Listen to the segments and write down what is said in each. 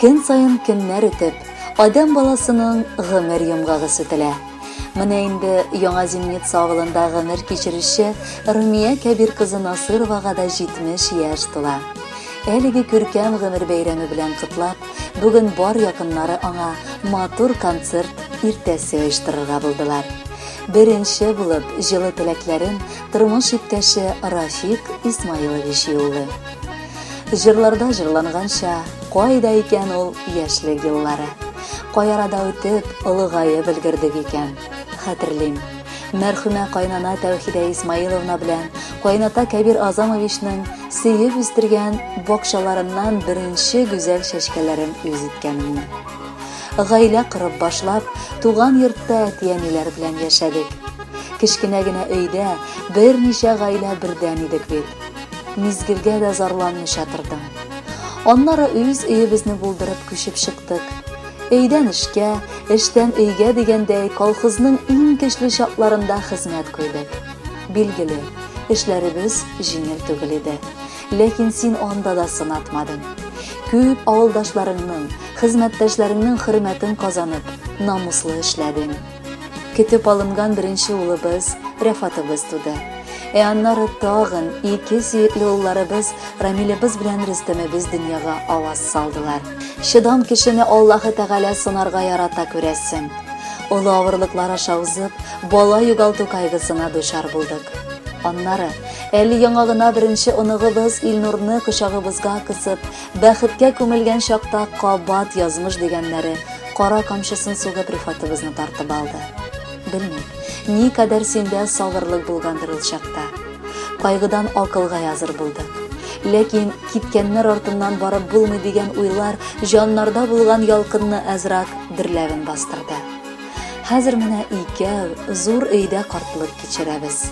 Көн саен көннәр үтеп, адәм баласының гомер йомгагы сүтелә. Менә инде Яңа Земница авылында гомер кичерүче Румия Кәбир кызы Насыровага да 70 яшь тула. Әлеге күркәм гомер бәйрәме белән котлап, бүген бар якыннары аңа матур концерт иртәсе оештырырга булдылар. Беренче булып җылы теләкләрен тормыш иптәше Рафик Исмаилович юллый. Җырларда җырланганча, кайда икән ул яшьлек еллары? Кай арада үтеп, олыгаеп өлгердек икән? Хәтерлим. Мәрхүмә кайнана Тәүхидә Исмаиловна белән кайната Кәбир Азамовичның сөеп үстергән бакчаларыннан беренче гүзәл чәчкәләрен үз иткәнемне. Гаилә корып башлап, туган йортта әти-әниләр белән яшәдек. Кечкенә генә өйдә берничә гаилә бердән идек бит. Мизгелгә дә зарланмыйча тордым. Аннары үз өебезне булдырып күчеп чыктык. Өйдән эшкә, эштән өйгә дигәндәй, колхозның иң көчле чакларында хезмәт куйдык. Билгеле, эшләребез җиңел түгел иде. Ләкин син анда да сынатмадың. Күп авылдашларыңның, хезмәттәшләреңнең хөрмәтен казанып, намуслы эшләдең. Көтеп алынган беренче улыбыз Рәфатыбыз туды. Ә аннары тагын ике сөекле улларыбыз Рамилебез белән Рөстәмебез дөньяга аваз салдылар. Чыдам кешене Аллаһы Тәгалә сынарга ярата күрәсең. Олы авырлыклар аша узып, бала югалту кайгысына дучар булдык. Аннары, әле яңа гына беренче оныгыбыз Илнурны кочагыбызга кысып, Бәхеткә күмелгән чакта кабат язмыш дигәннәре кара камчысын сугып рифатыбызны тартып алды. Белмим, ни кадәр синдә сабырлык булгандыр ул чакта. Кайгыдан акылга языр булдык. Ләкин киткәннәр артыннан барып булмый дигән уйлар җаннарда булган ялкынны әзрак дөрләвен бастырды. Хәзер менә икәү зур өйдә картлык кичерәбез.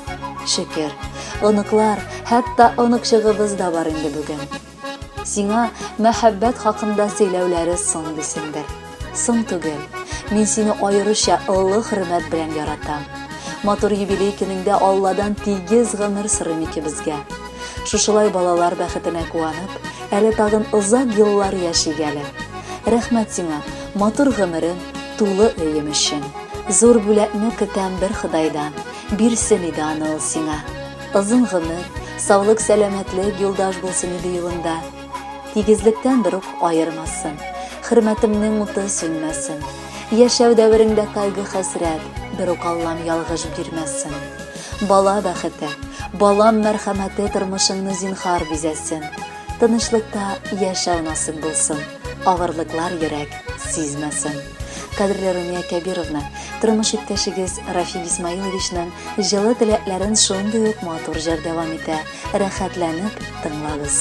Шөкер, оныклар, хәтта оныкчыгыбыз да бар инде бүген. Сиңа мәхәббәт хакында сөйләүләре соң дисеңдер. Соң түгел. Мин сине аеруча олы хөрмәт белән яратам. Матур юбилей көнеңдә Алладан тигез гомер сорыйм икебезгә. Шушылай балалар бәхетенә куанып, әле тагын озак еллар яшик әле. Рәхмәт сиңа, матур гомерем, тулы өем өчен. Зур бүләкне көтәм бер Ходайдан, бирсен иде аны ул сиңа. Озын гомер, саулык сәламәтлек юлдаш булсын иде юлында. Тигезлектән бер ук аермасын. Хөрмәтемнең уты сүнмәсен. Яшәү дәвереңдә кайгы хәсрәт, бер ук Аллам ялгыш бирмәсен. Бала бәхете, балам мәрхәмәте тормышыңны зинхар бизәсен. Тынычлыкта яшәү насыйп булсын. Авырлыклар йөрәк сизмәсен. Кадерле Румия Кәбировна, тормыш иптәшегез Рафик Исмаиловичның җылы теләкләрен шундый ук матур җыр дәвам итә. Рәхәтләнеп тыңлагыз.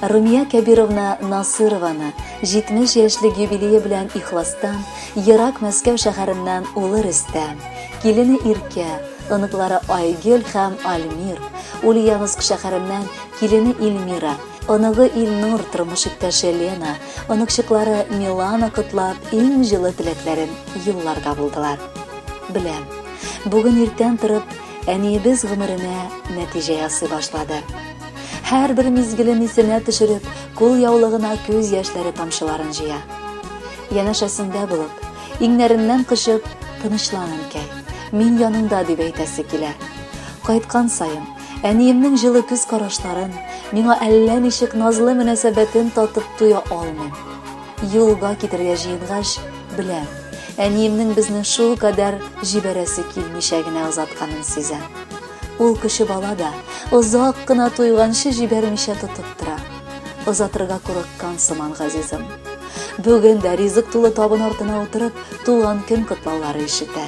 Румия Кәбировна Насырованы 70 яшьлек юбилее белән ихластан, ерак Мәскәү шәһәреннән улы Рөстәм, килене Иркә, оныклары Айгөл һәм Альмир, Ульяновск шәһәреннән килене Ильмира, оныгы Илнур, тормыш иптәше Лена, оныкчыклары Милана котлап, иң җылы теләкләрен юлларга булдылар. Беләм, бүген иртән торып, әниебез гомеренә нәтиҗә ясый башлады. Һәрбер мизгелен исенә төшереп, кул яулыгына күз яшьләре тамчыларын җыя. Янәшәсендә булып, иңнәреннән кочып, тынычлан, әнкәй, мин яныңда дип әйтәсе килә. Кайткан саен, әниемнең җылы күз карашларын, миңа әллә ничек назлы мөнәсәбәтен татып туя алмыйм. Юлга китергә җыенгач, беләм, әниемнең безне шул кадәр җибәрәсе килмичә генә озатканын сизәм. Ул кеше бала да, озак кына туйганчы җибәрмичә тотып тора. Озатырга курыккан сыман газизым. Бүген дә ризык тулы табын артына утырып, туган көн котлаулары ишетә.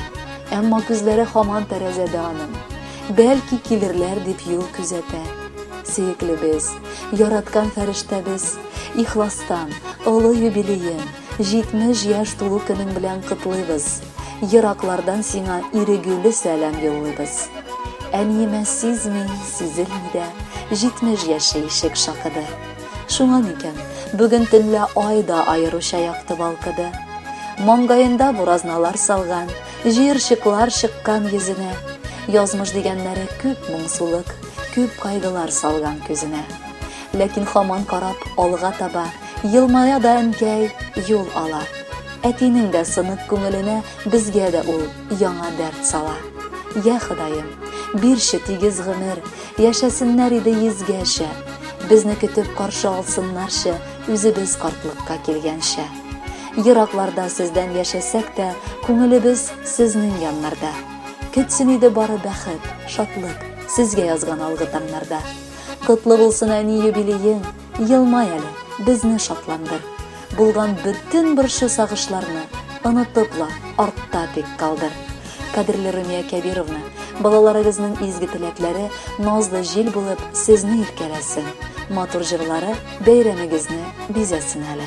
Әмма күзләре хаман тәрәзәдә аның. Бәлки килерләр дип юл күзәтә. Сөеклебез, яраткан фәрештәбез, Ихластан, олы юбилеең, 70 яшь тулу көнең белән котлыйбыз. Ераклардан сиңа ирегүле сәлам юллыйбыз. Әниемә сизми, сизелми дә, 70 яше ишек шакыды. Шуңа микән, бүген төнлә ай да аеруча якты балкыды. Маңгаенда буразналар салган, җыерчыклар чыккан йөзенә. Язмыш дигәннәре күп моңсулык, күп кайгылар салган күзенә. Ләкин хаман карап алга таба, Елмая да әнкәй юл ала. Әтинең дә сынык күңеленә Безгә дә ул яңа дәрт сала. Йә, Ходаем, бирче тигез гомер, Яшәсеннәр иде йөзгәчә. Безне көтеп каршы алсыннарчы, Үзебез картлыкка килгәнчә. Еракларда сездән яшәсәк тә, Күңелебез сезнең яннарда. Көтсен иде бары бәхет, шатлык, Сезгә язган алгы таңнарда. Котлы булсын әни юбилеең, елмай әле, безне шатландыр. Булган бөтен борчу сагышларны онытып ла артта тик калдыр. Кадерле Румия Кәбировна, балаларыгызның изге теләкләре назлы җил булып сезне иркәләсен, матур җырлары бәйрәмегезне бизәсен әле.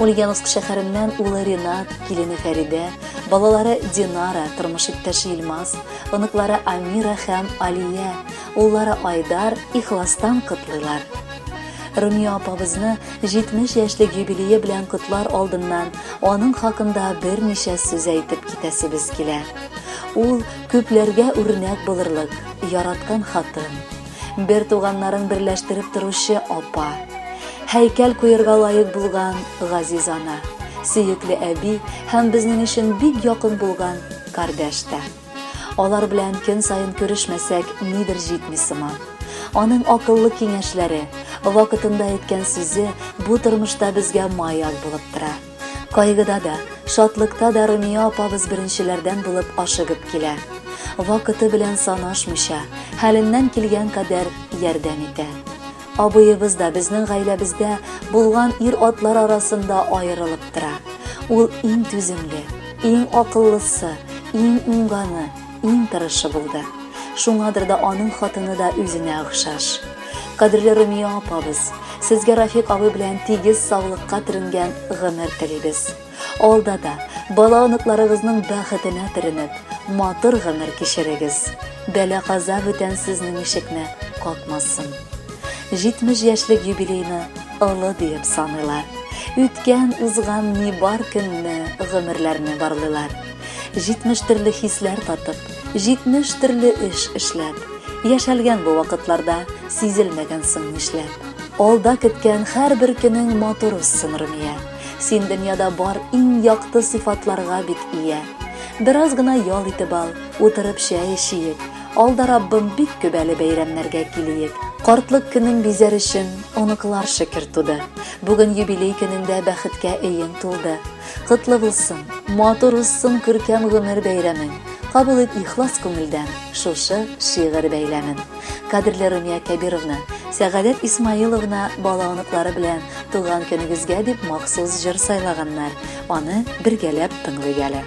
Ульяновск шәһәреннән улы Ренат, килене Фәридә, балалары Динара, тормыш иптәше Илмаз, оныклары Амира һәм Алия, уллары Айдар ихластан котлыйлар. Румия апабызны 70 яшьлек юбилее белән котлар алдыннан аның хакында берничә сүз әйтеп китәсебез килә. Ул күпләргә үрнәк булырлык, яраткан хатын, Бер туганнарын берләштереп торучы апа. Һәйкәл куерга лаек булган газиз ана. Сөекле әби һәм безнең өчен бик якын булган кардәш тә. Алар белән көн саен күрешмәсәк, нидер җитми сыман. Аның акыллы киңәшләре, вакытында әйткән сүзе бу тормышта безгә маяк булып тора. Кайгыда да, шатлыкта да Румия апабыз беренчеләрдән булып ашыгып килә. Вакыты белән санашмыйча, хәленнән килгән кадәр ярдәм итә. Абыебыз да безнең гаиләбездә булган ир-атлар арасында аерылып тора. Ул иң түземле, иң акыллысы, иң уңганы, Иң тырышы булды. Шуңадыр да аның хатыны да үзенә охшаш. Кадерле Румия апабыз, сезгә Рафик абый белән тигез саулыкка төренгән гомер телибез. Алда да бала оныкларыгызның бәхетенә төренеп, матур гомер кичерегез. Бәла каза бүтән сезнең ишекне какмасын. 70 яшьлек юбилейны олы диеп саныйлар. Үткән, узган ни бар көнне, гомерләрне барлыйлар. Җитмеш төрле хисләр татып, җитмеш төрле эш эшләп, Яшәлгән бу вакытларда, сизелмәгән соң нишләп. Алда көткән һәрбер көнең матур узсын, Румия. Син дөньяда бар иң якты сыйфатларга бит ия. Бераз гына ял итеп ал, утырып чәй эчиек, Алда Раббым бик күп әле бәйрәмнәргә килиек. Картлык көнең бизәр өчен оныклар шөкер туды. Бүген юбилей көнеңдә бәхеткә өең тулды. Котлы булсын, матур узсын күркәм гомер бәйрәмең. Кабул ит ихлас күңелдән шушы шигырь бәйләмен. Кадерле Румия Кәбировна, Сәгадәт Исмаиловна бала оныклары белән туган көнегезгә дип махсус җыр сайлаганнар. Аны бергәләп тыңлыйк әле.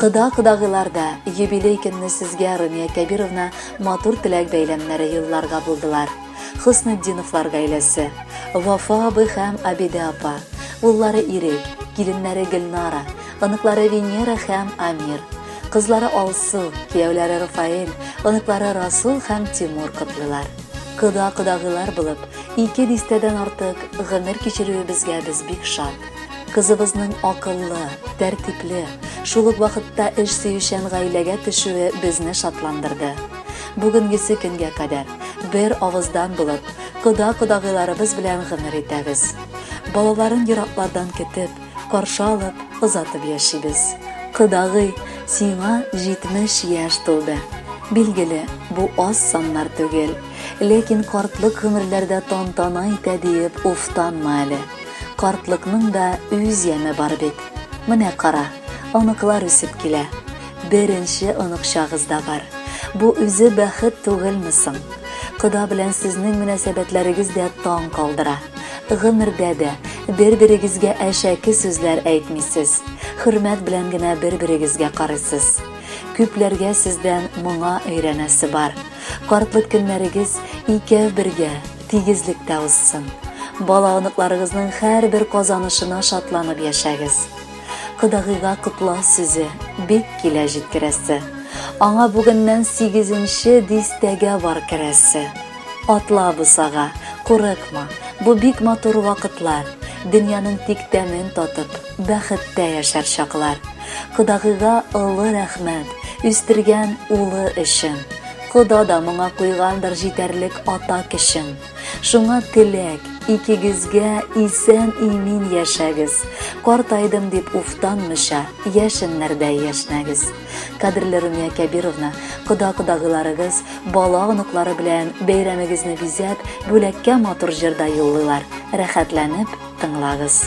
Кыда кыдагыларда юбилей көнне сезгә Румия Кәбировна матур теләк бәйләмнәре юлларга булдылар. Хөснетдиновлар гаиләсе, Вафа абый һәм Абиде апа, уллары Ирек, киленнәре Гөлнара, оныклары Венера һәм Амир, кызлары Алсу, кияүләре Рафаэль, оныклары Расул һәм Тимур котлыйлар. Кода кодагыйлар булып, ике дистәдән артык гомер кичерүебезгә без бик шат. Кызыбызның акыллы, тәртипле, шул ук вакытта эш сөючән гаиләгә төшүе безне шатландырды. Бүгенгесе көнгә кадәр бер авыздан булып, кода кодагыйларыбыз белән гомер итәбез. Балаларын ераклардан көтеп, каршы алып, озатып яшибез. Кодагый, сиңа 70 яшь тулды. Билгеле, бу аз саннар түгел, ләкин картлык гомерләрдә тантана итә диеп уфтанма әле. Картлыкның да үз яме бар бит. Менә кара, оныклар үсеп килә. Беренче оныкчагыз да бар. Бу үзе бәхет түгелме соң? Кода белән сезнең мөнәсәбәтләрегез дә таң калдыра. Гомердә дә бер-берегезгә әшәке сүзләр әйтмисез. Хөрмәт белән генә бер-берегезгә карыйсыз. Күпләргә сездән моңа өйрәнәсе бар. Картлык көннәрегез икәү бергә, тигезлектә узсын. Бала-оныкларыгызның һәрбер казанышына шатланып яшәгез. Кодагыйга котлау сүзе бик килә җиткерәсе. Аңа бүгеннән сигезенче дистәгә бар керәсе. Атла бусага, курыкма, бу бик матур вакытлар, дөньяның тик тәмен татып, бәхеттә яшәр чаклар. Кодагыйга олы рәхмәт, үстергән улы өчен. Кода да моңа куйгандыр җитәрлек ата көчен. Шуңа теләк, икегезгә исән-имин яшәгез, картайдым дип уфтанмыйча, яшеннәрдәй яшнәгез. Кадерле Румия Кәбировна, кода-кодагыйларыгыз, бала-оныклары белән бәйрәмегезне бизәп, бүләккә матур җыр да юллыйлар. Рәхәтләнеп тыңлагыз.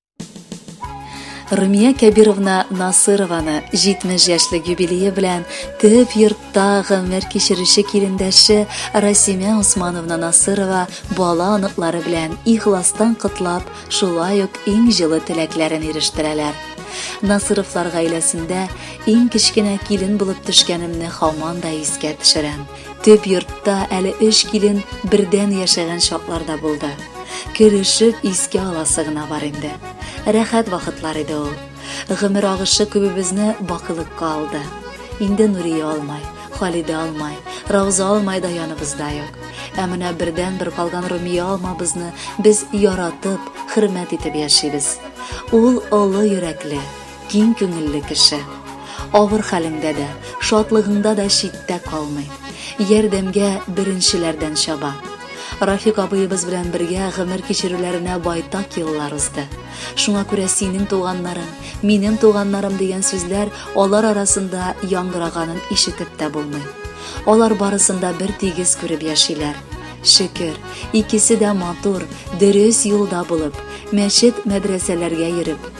Румия Кәбировна Насырованы 70 яшьлек юбилее белән төп йортта гомер кичерүче килендәше Расимә Усмановна Насырова бала оныклары белән ихластан котлап, шулай ук иң җылы теләкләрен ирештерәләр. Насыровлар гаиләсендә иң кечкенә килен булып төшкәнемне хаман да искә төшерәм. Төп йортта әле өч килен бердән яшәгән чаклар да булды. Көлешеп искә аласы гына бар инде. Рәхәт вакытлар иде ул. Гомер агышы күбебезне бакылыкка алды. Инде Нурия алмай, Халидә алмай, Рауза алмай да яныбызда юк. Ә менә бердән бер калган Румия алмабызны без яратып, хөрмәт итеп яшибез. Ул олы йөрәкле, киң күңелле кеше. Авыр хәлеңдә дә, шатлыгыңда да читтә калмый. Ярдәмгә беренчеләрдән чаба. Рафик абыебыз белән бергә гомер кичерүләренә байтак еллар узды. Шуңа күрә синең туганнарың, минем туганнарым дигән сүзләр алар арасында яңгыраганын ишетеп тә булмый. Алар барысын да бер тигез күреп яшиләр. Шөкер, икесе дә матур, дөрес юлда булып, мәчет-мәдрәсәләргә йөреп,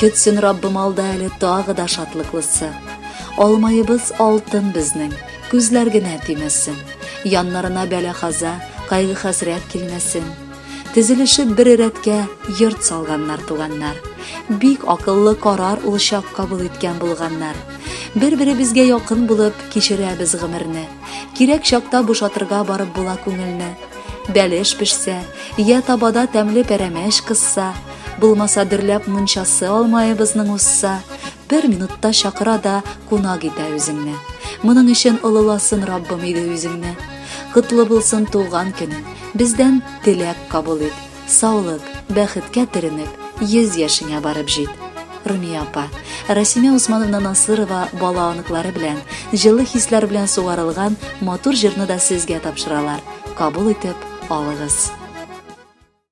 Көтсен Раббым алда әле тагы да шатлыклысы. Алмаебыз алтын безнең, күзләр генә тимәсен. Яннарына бәла-хаза, кайгы-хәсрәт килмәсен. Тезелешеп бер рәткә йорт салганнар туганнар. Бик акыллы карар ул чак кабул иткән булганнар. Бер-беребезгә якын булып кичерәбез гомерне. Кирәк чакта бушатырга барып була күңелне. Бәлеш пешсә, я табада тәмле пәрәмәч кысса, Булмаса дөрләп мунчасы алмаебызның усса, бер минутта чакыра да кунак итә үзеңне. Моның өчен олыласын Раббым иде үзеңне. Котлы булсын туган көне, бездән теләк кабул ит. Саулык, бәхеткә төренеп, йөз яшеңә барып җит. Румия апа, Расимә Усмановна Насырова бала оныклары белән, җылы хисләр белән сугарылган матур җырны да сезгә тапшыралар. Кабул итеп алыгыз.